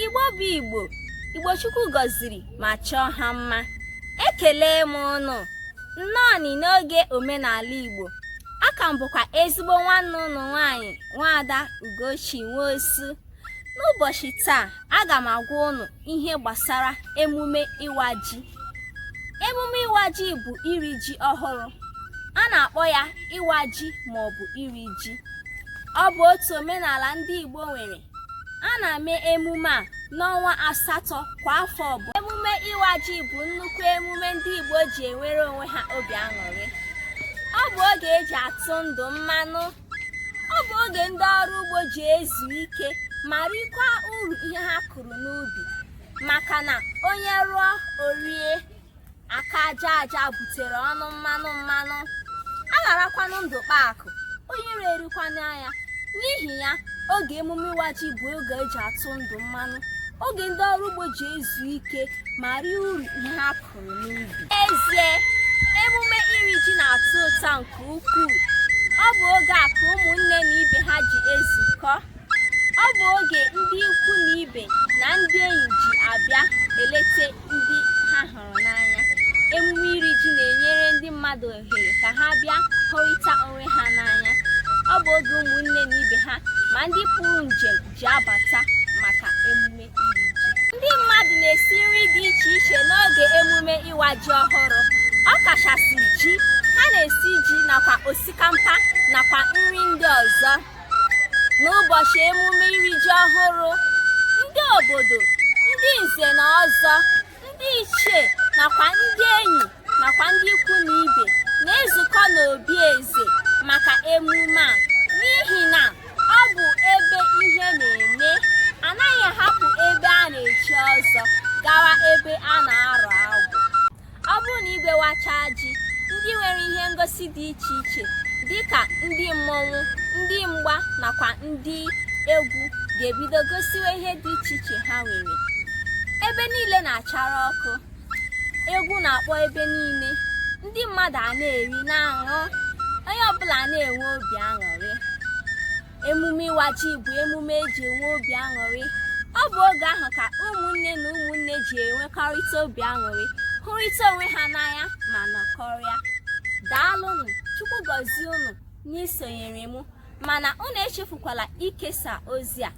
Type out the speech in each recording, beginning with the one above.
Igbo bụ Igbo, Igbo Chukwu gọziri ma chọọ ha mma. Ekele m ụnụ, nnọọ n'oge omenala Igbo. Aka m bụkwa ezigbo nwanne ụnụ nwaanyị nwaada Ugochi Nwosu. N'ụbọchị taa, aga m agwa ụnụ ihe gbasara emume ịwa ji. Emume ịwa ji bụ iri ji ọhụrụ. A na-akpọ ya ịwa ji maọbụ iri ji. Ọ bụ otu omenala ndị Igbo nwere. A na-eme emume a n'ọnwa asatọ kwa afọ ọbụla. Emume ịwa ji bụ nnukwu emume ndị Igbo ji enwere onwe ha obi aṅụrị. Ọ bụ oge eji atụ ndụ mmanụ. Ọ bụ oge ndị ọrụ ugbo ji ezu ike ma rikwa uru ihe ha kụrụ n'ubi maka na onye rụọ o rie. aka aja aja butere ọnụ mmanụ mmanụ a gharakwanụ ndụ kpaa akụ onye iro erikwanụ ya n'ihi ya oge emume ịwa ji bụ oge eji atụ ndụ mmanụ oge ndị ọrụ ugbo ji ezu ike ma rie uru ihe ha kụrụ n'ubi ezie emume iri ji na-atọ ụtọ nke ukwuu ọ bụ oge a ka ụmụnne na ibe ha ji ezukọ ọ bụ oge ndị ikwu na ibe na ndị enyi ji abịa elete ndị ha hụrụ n'anya emume iri ji na-enyere ndị mmadụ ohere ka ha bịa hụrịta onwe ha n'anya ọ bụ oge ụmụnne na ibe ha ma ndị pụrụ njem ji abata maka emume iri ji ndị mmadụ na-esi nri dị iche iche n'oge emume ịwa ji ọhụrụ ọ kachasị ji ha na-esi ji nakwa osikampa nakwa nri ndị ọzọ N'ụbọchị emume iri ji ọhụrụ, ndị obodo, ndị nze na ọzọ, ndị ichie nakwa ndị enyi nakwa ndị ikwu na ibe na-ezukọ n'obi eze maka emume a n'ihi na ọ bụ ebe ihe na-eme anaghị ahapụ ebe a na-echi ọzọ gawa ebe a na-arụ agwụ ọ bụrụ na igwe wachaa ji ndị nwere ihe ngosi dị iche iche dịka ndị mmọnwụ ndị mgba nakwa ndị egwu ga-ebido gosiwe ihe dị iche iche ha nwere ebe niile na-achara ọkụ egwu na-akpọ ebe niile ndị mmadụ a na-eri na-aṅụ onye ọbụla na-enwe obi aṅụrị emume ịwa ji bụ emume eji enwe obi aṅụrị ọ bụ oge ahụ ka ụmụnne na ụmụnne ji enwekọrịta obi aṅụrị hụrịta onwe ha n'anya ma nọkọrịa daalụnụ chukwu gọzie unu n'isonyere m mana unu echefukwala ikesa ozi a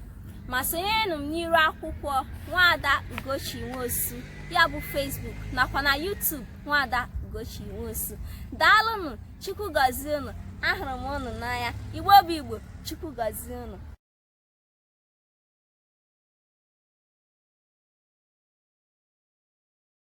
ma sonyerenụ m n'iru akwụkwọ nwaada ugochi nwosu ya bụ Facebook nakwa na YouTube nwaada ugochi nwosu daalụnụ chukwu gọzie unu ahụrụ m unu n'anya igbo bụ igbo chukwu gọzie unu